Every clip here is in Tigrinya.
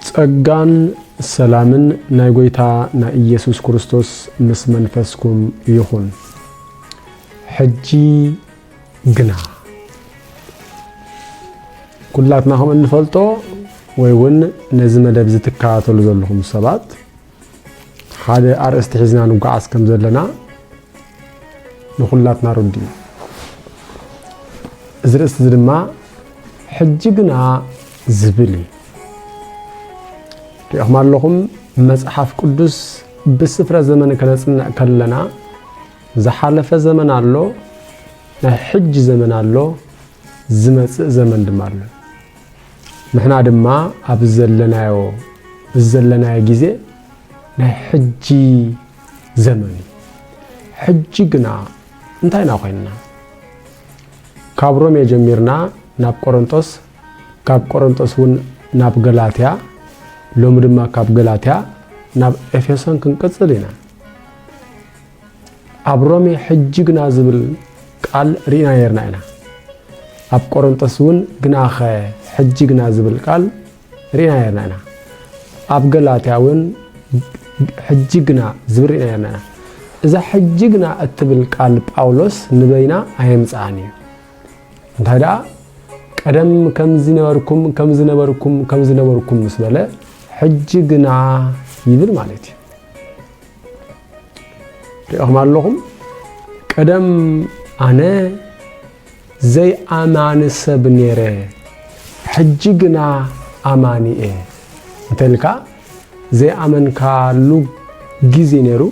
ጸጋን ሰላምን ናይ ጎይታ ናይ ኢየሱስ ክርስቶስ ምስ መንፈስኩም ይኹን። ሕጂ ግና ኩላትና ከም እንፈልጦ ወይ ውን ነዚ መደብ እዚ ትከታተሉ ዘለኹም ሰባት ሓደ ኣርእስቲ ሒዝና ንጓዓዝ ከም ዘለና ንኹላትና ርዱእ እዩ። እዚ ርእስቲ እዚ ድማ ሕጂ ግና ዝብል እዩ። ሪእኹም ኣለኹም መጽሓፍ ቅዱስ ብስፍረ ዘመን ከነጽንዕ ከለና ዝሓለፈ ዘመን ኣሎ፣ ናይ ሕጂ ዘመን ኣሎ፣ ዝመጽእ ዘመን ድማ ኣሎ። ንሕና ድማ ኣብዚ ዘለናዮ እዚ ዘለናዮ ግዜ ናይ ሕጂ ዘመን እዩ። ሕጂ ግና እንታይ ኢና ኮይንና? ካብ ሮሜ ጀሚርና ናብ ቆሮንጦስ፣ ካብ ቆሮንጦስ እውን ናብ ገላትያ፣ ሎሚ ድማ ካብ ገላትያ ናብ ኤፌሶን ክንቅጽል ኢና። ኣብ ሮሜ ሕጂ ግና ዝብል ቃል ርኢና ነርና ኢና። ኣብ ቆሮንጦስ እውን ግናኸ ሕጂ ግና ዝብል ቃል ርኢና ነርና ኢና። ኣብ ገላትያ እውን ሕጂ ግና ዝብል ርኢና ነርና ኢና። እዛ ሕጂ ግና እትብል ቃል ጳውሎስ ንበይና ኣየምጽኣን እዩ። እንታይ ደኣ ቀደም ከምዚ ነበርኩም ከምዚ ነበርኩም ከምዚ ነበርኩም ምስ በለ ሕጂ ግና ይብል ማለት እዩ ሪኢኹም ኣለኹም ቀደም ኣነ ዘይኣማኒ ሰብ ነይረ ሕጂ ግና ኣማኒ እየ እንተልካ ዘይኣመንካሉ ግዜ ነይሩ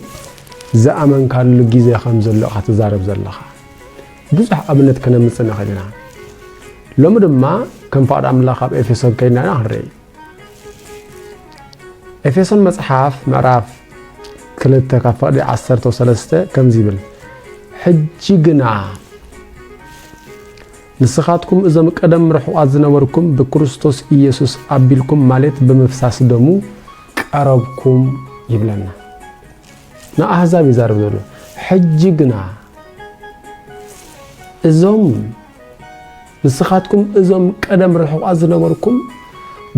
ዝኣመንካሉ ግዜ ከም ዘሎ ኢኻ ትዛረብ ዘለኻ ብዙሕ ኣብነት ክነምፅእ ንኽእል ኢና ሎሚ ድማ ከም ፍቓድ ኣምላኽ ኣብ ኤፌሶን ከይድና ኢና ክንርኢ ኤፌሶን መጽሓፍ ምዕራፍ ክልተ ካብ ፈቕዲ ዓሰርተው ሰለስተ ከምዚ ይብል ሕጂ ግና ንስኻትኩም እዞም ቀደም ርሑቓት ዝነበርኩም ብክርስቶስ ኢየሱስ ኣቢልኩም ማለት ብምፍሳስ ደሙ ቀረብኩም ይብለና ንኣህዛብ ይዛረብ ዘሎ ሕጂ ግና እዞም ንስኻትኩም እዞም ቀደም ርሑቓት ዝነበርኩም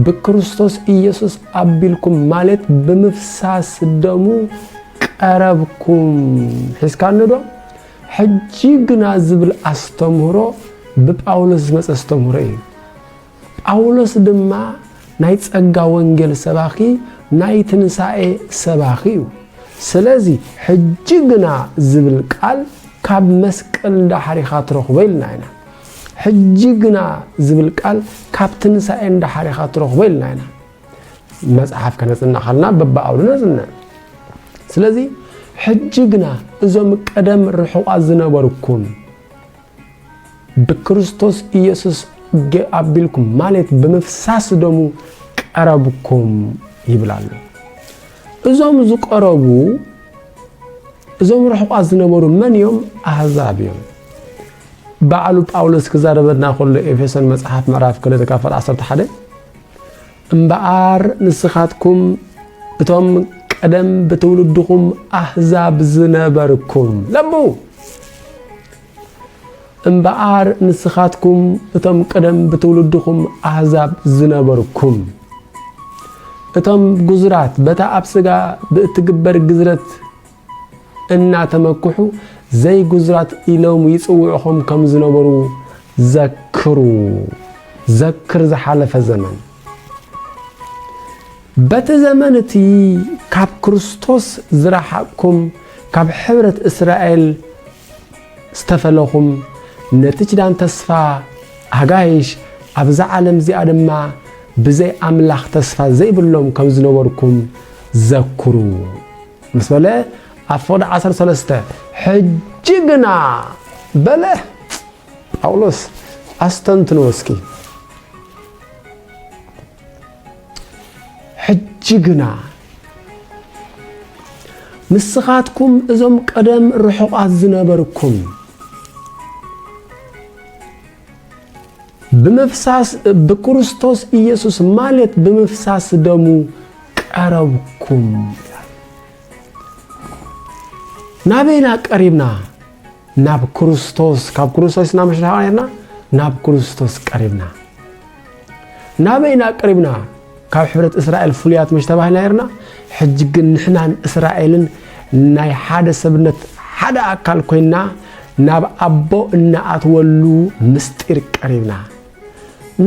ብክርስቶስ ኢየሱስ ኣቢልኩም ማለት ብምፍሳስ ደሙ ቀረብኩም ሒዝካኒዶ? ሕጂ ግና ዝብል ኣስተምህሮ ብጳውሎስ ዝመጸ ኣስተምህሮ እዩ። ጳውሎስ ድማ ናይ ጸጋ ወንጌል ሰባኺ ናይ ትንሳኤ ሰባኺ እዩ። ስለዚ ሕጂ ግና ዝብል ቃል ካብ መስቀል ዳሕሪኻ ትረኽቦ ኢልና ኢና። ሕጂ ግና ዝብል ቃል ካብ ትንሳኤ ንደሓር ኢኻ ትረኽቦ ኢልና ኢና መጽሓፍ ከነጽንዕ ከለና በብኣውዱ ነጽንዕ ስለዚ ሕጂ ግና እዞም ቀደም ርሑቓት ዝነበርኩም ብክርስቶስ ኢየሱስ ኣቢልኩም ማለት ብምፍሳስ ደሙ ቀረብኩም ይብል ኣሎ እዞም ዝቀረቡ እዞም ርሑቓት ዝነበሩ መን እዮም ኣህዛብ እዮም ባዕሉ ጳውሎስ ክዛረበና ከሎ ኤፌሶን መጽሓፍ ምዕራፍ ክልተ ካብ ፈር ዓሰርተ ሓደ እምበኣር ንስኻትኩም እቶም ቀደም ብትውልድኹም ኣህዛብ ዝነበርኩም ለቡ እምበኣር ንስኻትኩም እቶም ቅደም ብትውልድኹም ኣህዛብ ዝነበርኩም እቶም ጉዙራት በታ ኣብ ስጋ ብእትግበር ግዝረት እናተመክሑ ዘይግዙራት ኢሎም ይጽውዕኹም ከም ዝነበሩ ዘክሩ። ዘክር ዝሓለፈ ዘመን። በቲ ዘመን እቲ ካብ ክርስቶስ ዝረሓቕኩም ካብ ሕብረት እስራኤል ዝተፈለኹም ነቲ ኪዳን ተስፋ ኣጋይሽ ኣብዛ ዓለም እዚኣ ድማ ብዘይ ኣምላኽ ተስፋ ዘይብሎም ከም ዝነበርኩም ዘክሩ። ምስ በለ ኣፎድ ዓሰርተ ሰለስተ ሕጂ ግና በለ ጳውሎስ ኣስተንትንዎ እስኪ ሕጂ ግና ንስኻትኩም እዞም ቀደም ርሑቓት ዝነበርኩም ብምፍሳስ ብክርስቶስ ኢየሱስ ማለት ብምፍሳስ ደሙ ቀረብኩም ይላል። ናበይና ቀሪብና? ናብ ክርስቶስ ካብ ክርስቶስ ኢና ምሽ ናብ ክርስቶስ ቀሪብና ናበይ ኢና ቀሪብና ካብ ሕብረት እስራኤል ፍሉያት መሽ ተባሂልና ነርና ሕጂ ግን ንሕናን እስራኤልን ናይ ሓደ ሰብነት ሓደ ኣካል ኮይና ናብ ኣቦ እናኣትወሉ ምስጢር ቀሪብና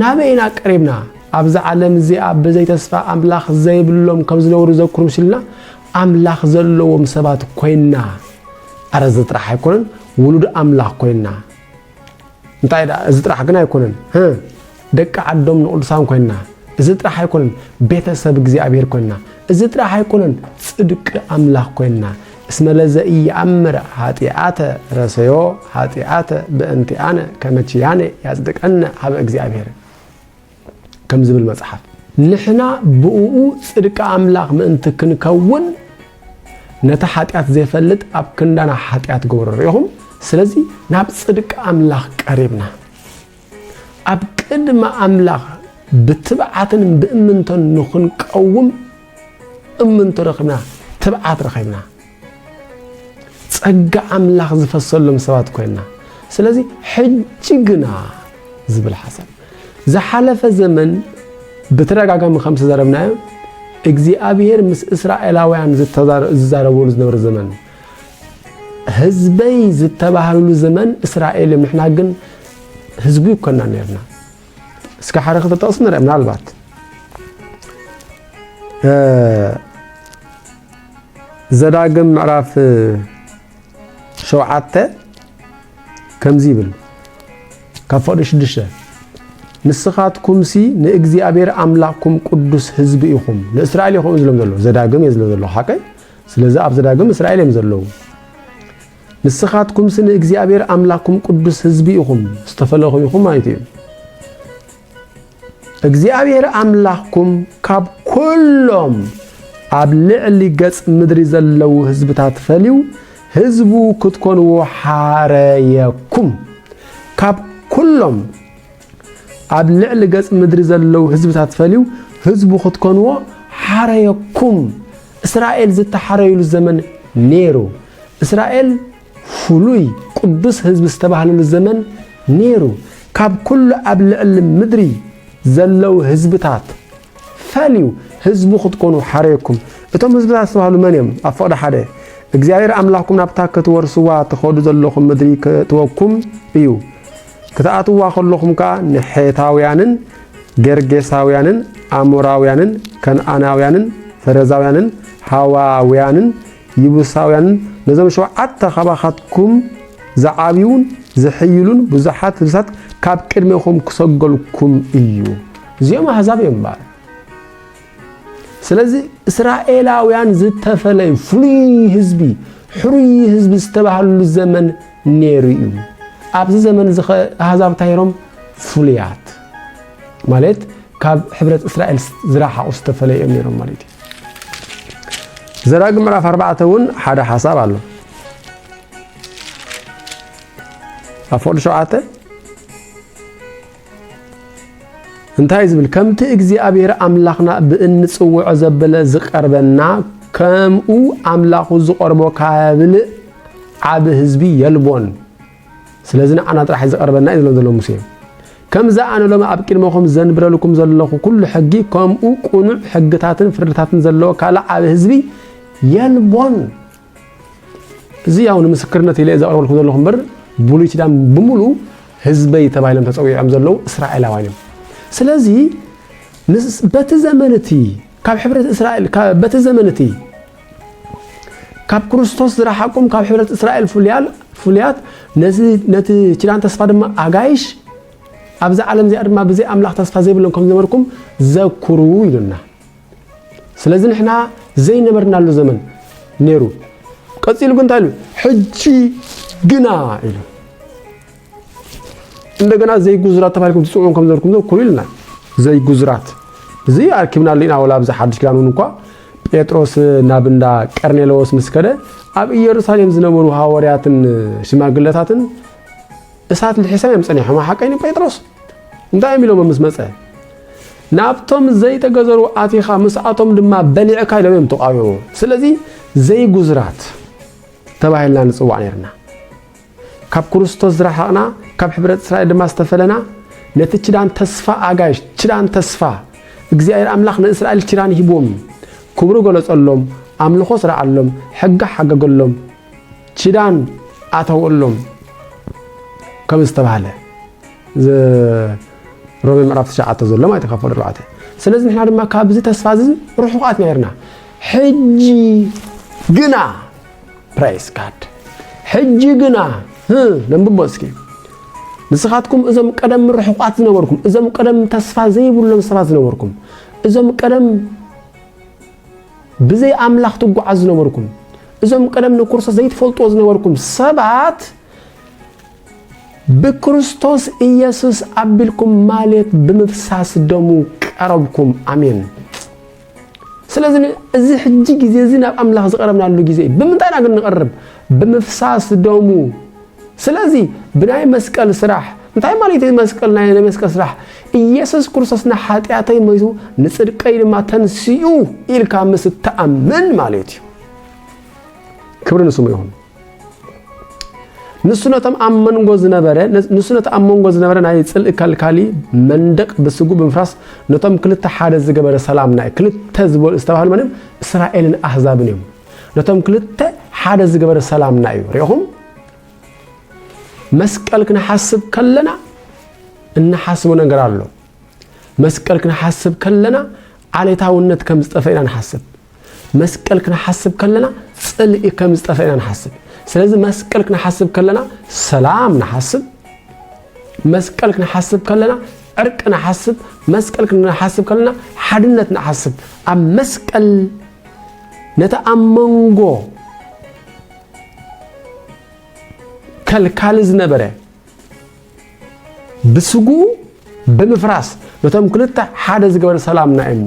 ናበይ ኢና ቀሪብና ኣብዛ ዓለም እዚኣ ብዘይ ተስፋ ኣምላኽ ዘይብሎም ከም ዝነብሩ ዘክሩ ምስልና ኣምላኽ ዘለዎም ሰባት ኮይና ኣረ እዚ ጥራሕ ኣይኮነን ውሉድ ኣምላኽ ኮይና እንታይ ደኣ እዚ ጥራሕ ግን ኣይኮነን ህ ደቂ ዓዶም ንቅዱሳን ኮይና እዚ ጥራሕ ኣይኮነን ቤተሰብ እግዚኣብሔር ኮይና እዚ ጥራሕ ኣይኮነን ጽድቂ ኣምላኽ ኮይና እስመ ለዘኢየኣምር ኃጢአተ ረሰዮ ኃጢአተ በእንቲአነ ከመ ኪያነ ያጽድቀነ ሀበ እግዚኣብሔር ከም ዝብል መጽሓፍ። ንሕና ብእኡ ጽድቂ ኣምላኽ ምእንቲ ክንከውን ነቲ ሓጢኣት ዘይፈልጥ ኣብ ክንዳና ሓጢኣት ገብሮ። ርኢኹም? ስለዚ ናብ ጽድቂ ኣምላኽ ቀሪብና ኣብ ቅድሚ ኣምላኽ ብትብዓትን ብእምንቶን ንኽንቀውም እምንቶ ረኺብና፣ ትብዓት ረኺብና። ጸጋ ኣምላኽ ዝፈሰሎም ሰባት ኮይና ስለዚ ሕጂ ግና ዝብል ሓሳብ ዝሓለፈ ዘመን ብተደጋጋሚ ከም ዝተዘረብናዮ እግዚኣብሔር ምስ እስራኤላውያን ዝዛረበሉ ዝነበረ ዘመን ህዝበይ ዝተባህልሉ ዘመን እስራኤል እዮም ንሕና ግን ህዝቡ ይኮና ነርና እስከ ሓደ ክተጠቕሱ ንርአ ምናልባት ዘዳግም ምዕራፍ ሸውዓተ ከምዚ ይብል ካብ ፈቕዲ ሽዱሽተ ንስኻትኩምሲ ንእግዚኣብሔር ኣምላኽኩም ቅዱስ ህዝቢ ኢኹም ንእስራኤል ይኹም ዝሎም ዘሎ ዘዳግም እየ ዝሎ ዘሎ ሓቀ ስለዚ ኣብ ዘዳግም እስራኤል እዮም ዘለዉ ንስኻትኩምሲ ንእግዚኣብሔር ኣምላኽኩም ቅዱስ ህዝቢ ኢኹም ዝተፈለኹም ኢኹም ማለት እዩ እግዚኣብሔር ኣምላኽኩም ካብ ኵሎም ኣብ ልዕሊ ገጽ ምድሪ ዘለዉ ህዝብታት ፈልዩ ህዝቡ ክትኮንዎ ሓረየኩም። ካብ ኵሎም ኣብ ልዕሊ ገጽ ምድሪ ዘለዉ ህዝብታት ፈልዩ ህዝቡ ክትኮንዎ ሓረየኩም። እስራኤል ዝተሓረዩሉ ዘመን ነይሩ። እስራኤል ፍሉይ ቅዱስ ህዝቢ ዝተባህለሉ ዘመን ነይሩ። ካብ ኩሉ ኣብ ልዕሊ ምድሪ ዘለዉ ህዝብታት ፈልዩ ህዝቡ ክትኮኑ ሓረየኩም። እቶም ህዝብታት ዝተባህሉ መን እዮም? ኣብ ፍቕዲ ሓደ እግዚኣብሔር ኣምላኽኩም ናብታ ክትወርስዋ ትኸዱ ዘለኹም ምድሪ ክእትወኩም እዩ። ክትኣትዋ ከለኹም ከኣ ንሔታውያንን ገርጌሳውያንን ኣሞራውያንን ከነኣናውያንን ፈረዛውያንን ሃዋውያንን ይቡሳውያንን ነዞም ሸውዓተ ኻባኻትኩም ዚዓብዩን ዚሕይሉን ብዙሓት ህዝብታት ካብ ቅድሜኹም ክሰጐልኩም እዩ። እዚኦም ኣህዛብ እዮም እምበኣር። ስለዚ እስራኤላውያን ዝተፈለዩ ፍሉይ ህዝቢ ሕሩይ ህዝቢ ዝተባህሉ ዘመን ነይሩ እዩ ኣብዚ ዘመን እዚ ኣህዛብ እንታይ ሮም ፍሉያት ማለት ካብ ሕብረት እስራኤል ዝረሓቑ ዝተፈለዩ እዮም ነይሮም ማለት እዩ ዘዳግም ምዕራፍ ኣርባዕተ እውን ሓደ ሓሳብ ኣሎ ኣብ ፍቕዲ ሸውዓተ እንታይ ዝብል ከምቲ እግዚኣብሔር ኣምላኽና ብእንፅውዖ ዘበለ ዝቀርበና ከምኡ ኣምላኹ ዝቐርቦ ካብልእ ዓብ ህዝቢ የልቦን ስለዚ ንዓና ጥራሕ ዝቐርበና እዩ ዝብሎም ዘሎ ሙሴ። ከምዚ ኣነ ሎሚ ኣብ ቅድመኹም ዘንብረልኩም ዘለኹ ኩሉ ሕጊ ከምኡ ቁኑዕ ሕግታትን ፍርድታትን ዘለዎ ካልእ ዓቢ ህዝቢ የልቦን። እዚ ያው ንምስክርነት ኢለ ዘቕርበልኩ ዘለኹ እምበር ብሉይ ኪዳን ብምሉ ህዝበይ ተባሂሎም ተፀዊዖም ዘለዉ እስራኤላውያን እዮም ስለዚ በቲ ዘመን እቲ ካብ ሕብረት እስራኤል በቲ ዘመን እቲ ካብ ክርስቶስ ዝረሓቁም ካብ ሕብረት እስራኤል ፍሉያት ነቲ ኪዳን ተስፋ ድማ ኣጋይሽ ኣብዚ ዓለም እዚኣ ድማ ብዘይ ኣምላኽ ተስፋ ዘይብሎም ከም ዝነበርኩም ዘኩሩ ኢሉና ስለዚ ንሕና ዘይነበርናሉ ዘመን ነይሩ ቀፂሉ ግን እንታይ ኢሉ ሕጂ ግና ኢሉ እንደገና ዘይጉዙራት ተባሂልኩም ትፅውዑን ከም ዘርኩም ዘኩሩ ኢልና ዘይጉዙራት እዚ ኣርኪብና ኣለና ወላ ኣብዚ ሓድሽ ኪዳን እውን እኳ ጴጥሮስ ናብ እንዳ ቀርኔለዎስ ምስ ከደ ኣብ ኢየሩሳሌም ዝነበሩ ሃወርያትን ሽማግለታትን እሳት ልሒሶም እዮም ጸኒሖም ሓቀይኒ ጴጥሮስ እንታይ እዮም ኢሎሞ ምስ መጸ ናብቶም ዘይተገዘሩ ኣቲኻ ምስኣቶም ድማ በሊዕካ ኢሎም እዮም ተቃወሙ ስለዚ ዘይጉዝራት ተባሂልና ንጽዋዕ ነርና ካብ ክርስቶስ ዝረሓቕና ካብ ሕብረት እስራኤል ድማ ዝተፈለና ነቲ ኪዳን ተስፋ ኣጋይሽ ኪዳን ተስፋ እግዚኣብሔር ኣምላኽ ንእስራኤል ኪዳን ሂብዎም እዩ ክብሩ ገለጸሎም ኣምልኾ ስርዓሎም ሕጊ ሓገገሎም ኪዳን ኣተወሎም ከም ዝተባህለ ሮሜ ምዕራፍ ትሽዓተ ዘሎ ማለት ካብ ፈዶ ኣርባዕተ ስለዚ ንሕና ድማ ካብዚ ተስፋ እዚ ርሑቓት ነርና ሕጂ ግና Praise God ሕጂ ግና ህ ነንብቦ እስኪ ንስኻትኩም እዞም ቀደም ርሑቓት ዝነበርኩም እዞም ቀደም ተስፋ ዘይብሎም ሰባት ዝነበርኩም እዞም ቀደም ብዘይ ኣምላኽ ትጓዓዝ ዝነበርኩም እዞም ቀደም ንክርስቶስ ዘይትፈልጥዎ ዝነበርኩም ሰባት ብክርስቶስ ኢየሱስ ኣቢልኩም ማለት ብምፍሳስ ደሙ ቀረብኩም ኣሜን ስለዚ እዚ ሕጂ ግዜ እዚ ናብ ኣምላኽ ዝቐረብናሉ ግዜ እዩ። ብምንታይ ኢና ግን ንቐርብ? ብምፍሳስ ደሙ። ስለዚ ብናይ መስቀል ስራሕ እንታይ ማለት እዩ? መስቀል ናይ መስቀል ስራሕ ኢየሱስ ክርስቶስ ንሓጢኣተይ ሞይቱ ንጽድቀይ ድማ ተንስኡ ኢልካ ምስ እትኣምን ማለት እዩ። ክብሪ ንስሙ ይኹን። ንሱ ነቶም ኣብ መንጎ ዝነበረ ንሱ ነቲ ኣብ መንጎ ዝነበረ ናይ ጽልኢ ከልካሊ መንደቅ ብስጉ ብምፍራስ ነቶም ክልተ ሓደ ዝገበረ ሰላም ናይ ክልተ ዝበሉ ዝተባህሉ መን እስራኤልን ኣህዛብን እዮም ነቶም ክልተ ሓደ ዝገበረ ሰላምና እዩ ሪኢኹም መስቀል ክንሓስብ ከለና እንሓስቦ ነገር ኣሎ መስቀል ክንሓስብ ከለና ዓሌታውነት ከም ዝጠፈ ኢና ንሓስብ መስቀል ክንሓስብ ከለና ጽልኢ ከም ዝጠፈ ኢና ንሓስብ። ስለዚ መስቀል ክንሓስብ ከለና ሰላም ንሓስብ፣ መስቀል ክንሓስብ ከለና ዕርቂ ንሓስብ፣ መስቀል ክንሓስብ ከለና ሓድነት ንሓስብ። ኣብ መስቀል ነቲ ኣብ መንጎ ከልካሊ ዝነበረ ብስጉኡ ብምፍራስ ነቶም ክልተ ሓደ ዝገበረ ሰላምና እሞ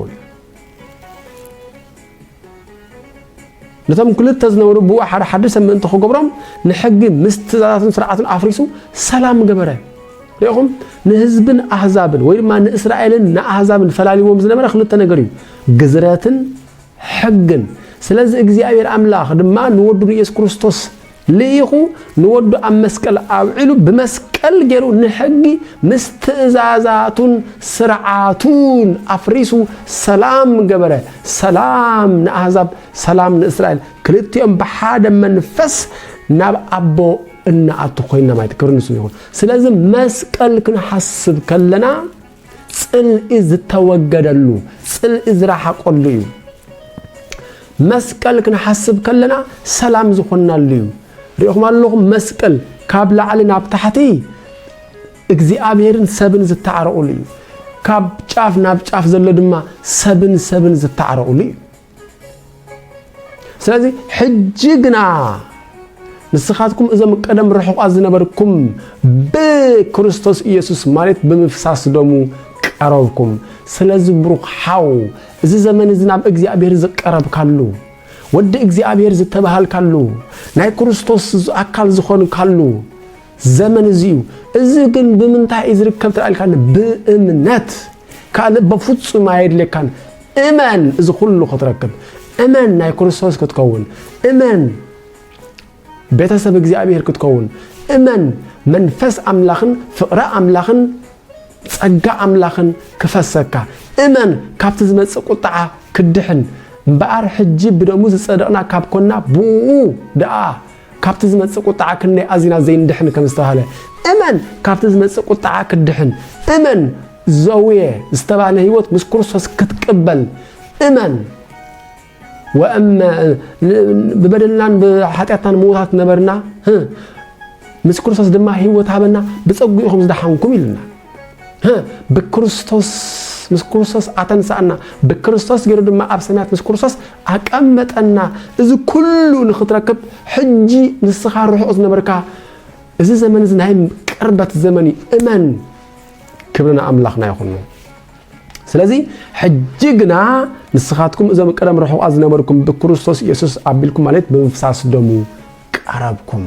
ነቶም ክልተ ዝነበሩ ብኡ ሓደ ሓዲ ሰብ ምእንቲ ክገብሮም ንሕጊ ምስ ትእዛዛትን ስርዓትን ኣፍሪሱ ሰላም ገበረ ሪኢኹም ንህዝብን ኣህዛብን ወይ ድማ ንእስራኤልን ንኣህዛብን ፈላሊዎም ዝነበረ ክልተ ነገር እዩ ግዝረትን ሕግን ስለዚ እግዚኣብሔር ኣምላኽ ድማ ንወዱ ንኢየሱስ ክርስቶስ ልኢኹ ንወዱ ኣብ መስቀል ኣውዒሉ ብመስቀል ገይሩ ንሕጊ ምስ ትእዛዛቱን ስርዓቱን ኣፍሪሱ ሰላም ገበረ ሰላም ንኣህዛብ ሰላም ንእስራኤል ክልቲኦም ብሓደ መንፈስ ናብ ኣቦ እናኣቱ ኮይና ማለት ክብሪ ንስሙ ይኹን ስለዚ መስቀል ክንሓስብ ከለና ጽልኢ ዝተወገደሉ፣ ጽልኢ ዝረሓቀሉ እዩ። መስቀል ክንሓስብ ከለና ሰላም ዝኾንናሉ እዩ። ሪኢኹም ኣለኹም መስቀል ካብ ላዕሊ ናብ ታሕቲ እግዚኣብሔርን ሰብን ዝተዓረቑሉ እዩ። ካብ ጫፍ ናብ ጫፍ ዘሎ ድማ ሰብን ሰብን ዝተዓረቑሉ እዩ። ስለዚ ሕጂ ግና ንስኻትኩም እዞም ቀደም ርሑቓት ዝነበርኩም ብክርስቶስ ኢየሱስ ማለት ብምፍሳስ ደሙ ቀረብኩም። ስለዚ ብሩኽ ሓው እዚ ዘመን እዚ ናብ እግዚኣብሔር ዝቀረብካሉ ወዲ እግዚኣብሔር ዝተባሃልካሉ ናይ ክርስቶስ ኣካል ዝኾንካሉ ዘመን እዚ እዩ። እዚ ግን ብምንታይ እዩ ዝርከብ ትርኣ ኢልካኒ ብእምነት ካልእ በፍጹም ኣየድልየካን። እመን እዚ ኩሉ ክትረክብ፣ እመን ናይ ክርስቶስ ክትከውን፣ እመን ቤተሰብ እግዚኣብሔር ክትከውን፣ እመን መንፈስ ኣምላኽን ፍቕሪ ኣምላኽን ጸጋ ኣምላኽን ክፈሰካ፣ እመን ካብቲ ዝመጽእ ቁጥዓ ክድሕን እምበኣር ሕጂ ብደሙ ዝጸደቕና ካብ ኮና ብኡ ደኣ ካብቲ ዝመጽእ ቁጥዓ ክንደይ ኣዚና ዘይንድሕን ከም ዝተባህለ እመን ካብቲ ዝመጽእ ቁጥዓ ክትድሕን እመን ዘውየ ዝተባህለ ህይወት ምስ ክርስቶስ ክትቅበል እመን ወእመ ብበደልናን ብሓጢኣትናን ምውታት ነበርና ምስ ክርስቶስ ድማ ህይወት ሃበና ብጸጉኡ ኢኹም ዝደሓንኩም ኢልና ብክርስቶስ ምስ ክርስቶስ ኣተንሳእና ብክርስቶስ ገይሩ ድማ ኣብ ሰማያት ምስ ክርስቶስ ኣቀመጠና እዚ ኩሉ ንክትረክብ ሕጂ ንስኻ ርሑቕ ዝነበርካ እዚ ዘመን እዚ ናይ ቅርበት ዘመን እዩ እመን ክብሪ ንኣምላኽና ይኹኑ ስለዚ ሕጂ ግና ንስኻትኩም እዞም ቀደም ርሑቓት ዝነበርኩም ብክርስቶስ ኢየሱስ ኣቢልኩም ማለት ብምፍሳስ ደሙ ቀረብኩም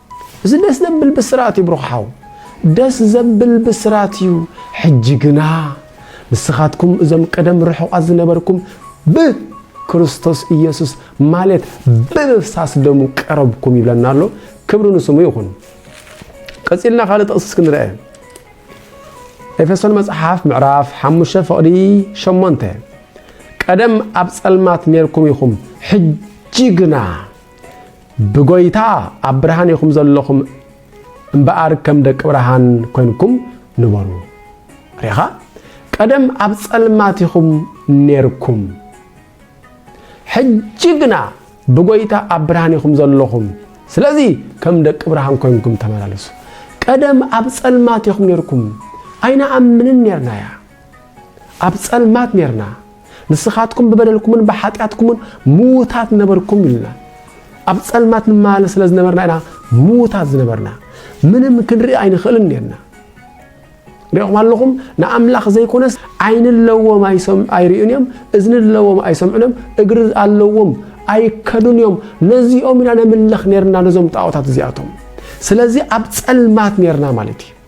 እዚ ደስ ዘብል ብስራት እዩ ብሩኽ ሓው። ደስ ዘብል ብስራት እዩ ሕጂ ግና ንስኻትኩም እዞም ቀደም ርሑቓት ዝነበርኩም ብ ክርስቶስ ኢየሱስ ማለት ብምፍሳስ ደሙ ቀረብኩም ይብለና ኣሎ ክብሪ ንስሙ ይኹን ቀጺልና ካልእ ጥቕሲ እስኪ ንርአ ኤፌሶን መጽሓፍ ምዕራፍ ሓሙሽተ ፍቕዲ ሸሞንተ ቀደም ኣብ ጸልማት ኔርኩም ኢኹም ሕጂ ግና ብጎይታ ኣብ ብርሃን ኢኹም ዘለኹም እምበኣር ከም ደቂ ብርሃን ኮንኩም ንበሩ። ሪኻ ቀደም ኣብ ጸልማት ኢኹም ኔርኩም፣ ሕጂ ግና ብጎይታ ኣብ ብርሃን ኢኹም ዘለኹም፣ ስለዚ ከም ደቂ ብርሃን ኮንኩም ተመላለሱ። ቀደም ኣብ ጸልማት ኢኹም ኔርኩም፣ ኣይንኣምንን ኔርና እያ ኣብ ጸልማት ኔርና፣ ንስኻትኩም ብበደልኩምን ብሓጢኣትኩምን ምዉታት ነበርኩም ኢሉና። ኣብ ጸልማት ንመላለስ ስለ ዝነበርና ኢና ምዉታት ዝነበርና። ምንም ክንርኢ ኣይንኽእልን ኔርና። ሪኹም ኣለኹም ንኣምላኽ ዘይኮነስ ዓይኒ ኣለዎም ኣይርእዩን እዮም እዝኒ ኣለዎም ኣይሰምዑን እዮም እግሪ ኣለዎም ኣይከዱን እዮም ነዚኦም ኢና ነምልኽ ነርና ነዞም ጣዖታት እዚኣቶም ስለዚ ኣብ ጸልማት ነርና ማለት እዩ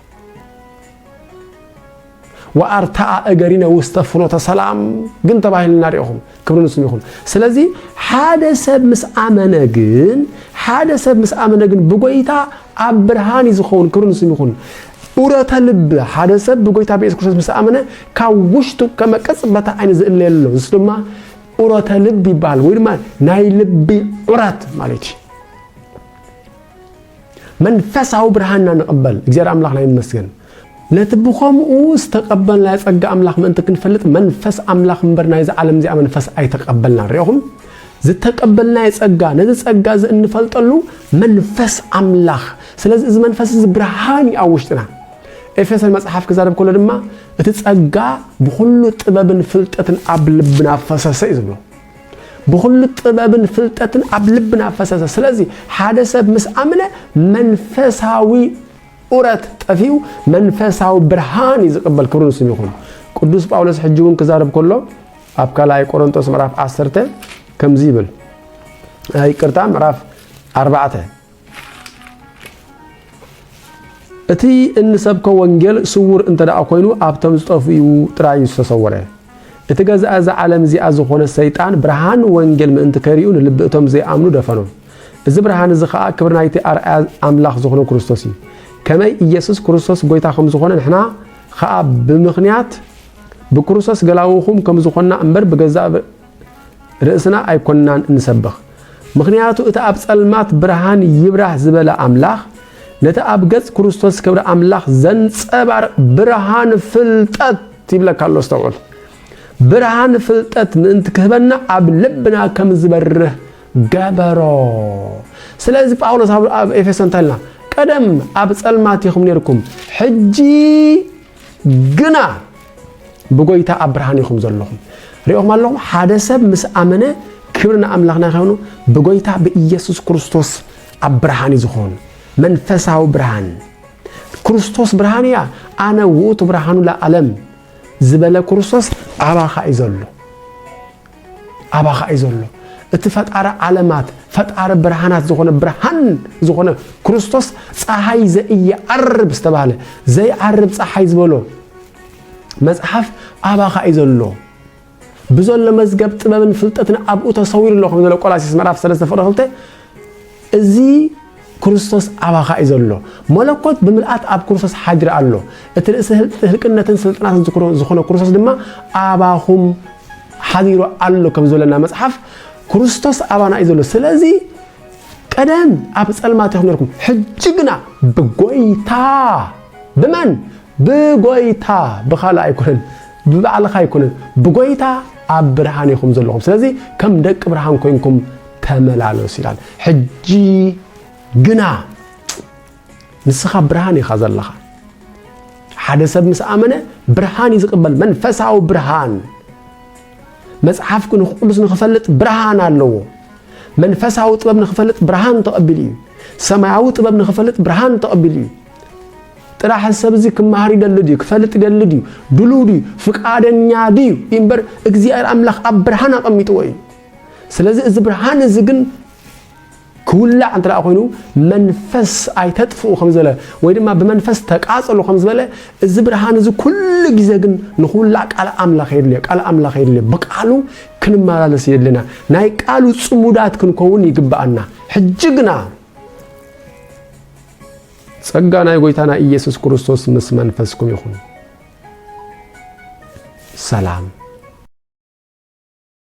ወኣርትዓ እገሪነ ውስተ ፍኖተ ሰላም ግን ተባሂልና ሪኢኹም ክብሪ ንስሙ ይኹን። ስለዚ ሓደ ሰብ ምስ ኣመነ ግን ሓደ ሰብ ምስ ኣመነ ግን ብጎይታ ኣብ ብርሃን እዩ ዝኸውን ክብሪ ንስሙ ይኹን። ኡረተ ልብ ሓደ ሰብ ብጎይታ ብየሱስ ክርስቶስ ምስ ኣመነ ካብ ውሽጡ ከመ ቅጽበተ ዓይኒ ዝእለየሉ ኣሎ ንሱ ድማ ኡረተ ልብ ይበሃል ወይ ድማ ናይ ልቢ ዑረት ማለት እዩ መንፈሳዊ ብርሃን ኢና ንቕበል። እግዚኣብሔር ኣምላኽና ይመስገን። ነቲ ብኸምኡ ዝተቐበልናዮ ጸጋ ኣምላኽ ምእንቲ ክንፈልጥ መንፈስ ኣምላኽ እምበር ናይዚ ዓለም እዚኣ መንፈስ ኣይተቐበልናን። ርኢኹም? ዝተቀበልናዮ ጸጋ ነዚ ጸጋ እዚ እንፈልጠሉ መንፈስ ኣምላኽ። ስለዚ እዚ መንፈስ እዚ ብርሃን እዩ ኣብ ውሽጥና። ኤፌሶን መጽሓፍ ክዛረብ ከሎ ድማ እቲ ጸጋ ብኹሉ ጥበብን ፍልጠትን ኣብ ልብና ፈሰሰ እዩ ዝብሎ። ብኹሉ ጥበብን ፍልጠትን ኣብ ልብና ፈሰሰ። ስለዚ ሓደ ሰብ ምስ ኣምነ መንፈሳዊ ኡረት ጠፊኡ መንፈሳዊ ብርሃን እዩ ዝቕበል። ክብሪ ንስም ይኹን። ቅዱስ ጳውሎስ ሕጂ እውን ክዛረብ ከሎ ኣብ ካልኣይ ቆሮንጦስ ምዕራፍ 10 ከምዚ ይብል ይቅርታ ምዕራፍ 4 እቲ እንሰብኮ ወንጌል ስዉር እንተ ደኣ ኰይኑ ኣብቶም ዝጠፍኡ ጥራይ እዩ ዝተሰወረ። እቲ ገዛኢ እዛ ዓለም እዚኣ ዝዀነ ሰይጣን ብርሃን ወንጌል ምእንቲ ከይርእዩ ንልቢ እቶም ዘይኣምኑ ደፈኖም። እዚ ብርሃን እዚ ኸኣ ክብሪ ናይቲ ኣርኣያ ኣምላኽ ዝዀነ ክርስቶስ እዩ። ከመይ ኢየሱስ ክርስቶስ ጐይታ ከም ዝዀነ ንሕና ኸኣ ብምኽንያት ብክርስቶስ ገላዉኹም ከም ዝዀንና እምበር ብገዛእ ርእስና ኣይኮንናን እንሰብኽ፣ ምኽንያቱ እቲ ኣብ ጸልማት ብርሃን ይብራህ ዝበለ ኣምላኽ ነቲ ኣብ ገጽ ክርስቶስ ክብሪ ኣምላኽ ዘንጸባርቕ ብርሃን ፍልጠት ይብለካ ኣሎ። ኣስተውዕል፣ ብርሃን ፍልጠት ምእንቲ ክህበና ኣብ ልብና ከም ዝበርህ ገበሮ። ስለዚ ጳውሎስ ኣብ ኤፌሶን እንታይ ኢልና? ቀደም ኣብ ጸልማት ኢኹም ነርኩም፣ ሕጂ ግና ብጎይታ ኣብ ብርሃን ኢኹም ዘለኹም ሪኦም ኣለኹም ሓደ ሰብ ምስ ኣመነ ክብሪ ንኣምላኽና ይኸኑ ብጎይታ ብኢየሱስ ክርስቶስ ኣብ ብርሃን እዩ ዝኾኑ መንፈሳዊ ብርሃን ክርስቶስ ብርሃን እያ ኣነ ውእቱ ብርሃኑ ለዓለም ዝበለ ክርስቶስ ኣባኻ እዩ ዘሎ ኣባኻ እዩ ዘሎ። እቲ ፈጣሪ ዓለማት ፈጣሪ ብርሃናት ዝኾነ ብርሃን ዝኾነ ክርስቶስ ፀሃይ ዘኢየዐርብ ዝተባህለ ዘይዓርብ ፀሓይ ዝበሎ መፅሓፍ ኣባኻ እዩ ዘሎ። ብዘሎ መዝገብ ጥበብን ፍልጠትን ኣብኡ ተሰዊሩ ኣሎ ከም ዘሎ ቆላሲስ ምዕራፍ 3 ፍቅሪ 2 እዚ ክርስቶስ ኣባኻ እዩ ዘሎ። መለኮት ብምልኣት ኣብ ክርስቶስ ሓድሪ ኣሎ። እቲ ርእሲ ህልቅነትን ስልጣናትን ዝኾነ ክርስቶስ ድማ ኣባኹም ሓዲሩ ኣሎ ከም ዝበለና መጽሓፍ ክርስቶስ ኣባና እዩ ዘሎ። ስለዚ ቀደም ኣብ ጸልማት ኢኹም ነርኩም፣ ሕጂ ግና ብጎይታ ብመን ብጎይታ ብኻልእ ኣይኮነን ብባዕልኻ ኣይኮነን ብጎይታ ኣብ ብርሃን ኢኹም ዘለኹም። ስለዚ ከም ደቂ ብርሃን ኮንኩም ተመላለስ ይላል ሕጂ ግና ንስኻ ብርሃን ኢኻ ዘለኻ ሓደ ሰብ ምስ ኣመነ ብርሃን እዩ ዝቕበል መንፈሳዊ ብርሃን መጽሓፍ ቅዱስ ንክፈልጥ ብርሃን ኣለዎ መንፈሳዊ ጥበብ ንክፈልጥ ብርሃን ተቐቢሉ እዩ ሰማያዊ ጥበብ ንክፈልጥ ብርሃን ተቐቢሉ እዩ ጥራሕ ሰብ እዚ ክመሃር ይደሊ ድዩ ክፈልጥ ይደሊ ድዩ ድሉ ድዩ ፍቃደኛ ድዩ እምበር እግዚኣብሔር ኣምላኽ ኣብ ብርሃን ኣቐሚጥዎ እዩ ስለዚ እዚ ብርሃን እዚ ግን ክውላዕ እንተ ኮይኑ መንፈስ ኣይተጥፍኡ ከም ዝበለ ወይ ድማ ብመንፈስ ተቃጸሉ ከም ዝበለ እዚ ብርሃን እዚ ኩሉ ግዜ ግን ንክውላዕ ቃል ኣምላኽ የድልዮ ቃል ኣምላኽ የድልዮ ብቃሉ ክንመላለስ የድልና ናይ ቃሉ ጽሙዳት ክንከውን ይግብኣና ሕጂ ግና ጸጋ ናይ ጎይታና ኢየሱስ ክርስቶስ ምስ መንፈስኩም ይኹን ሰላም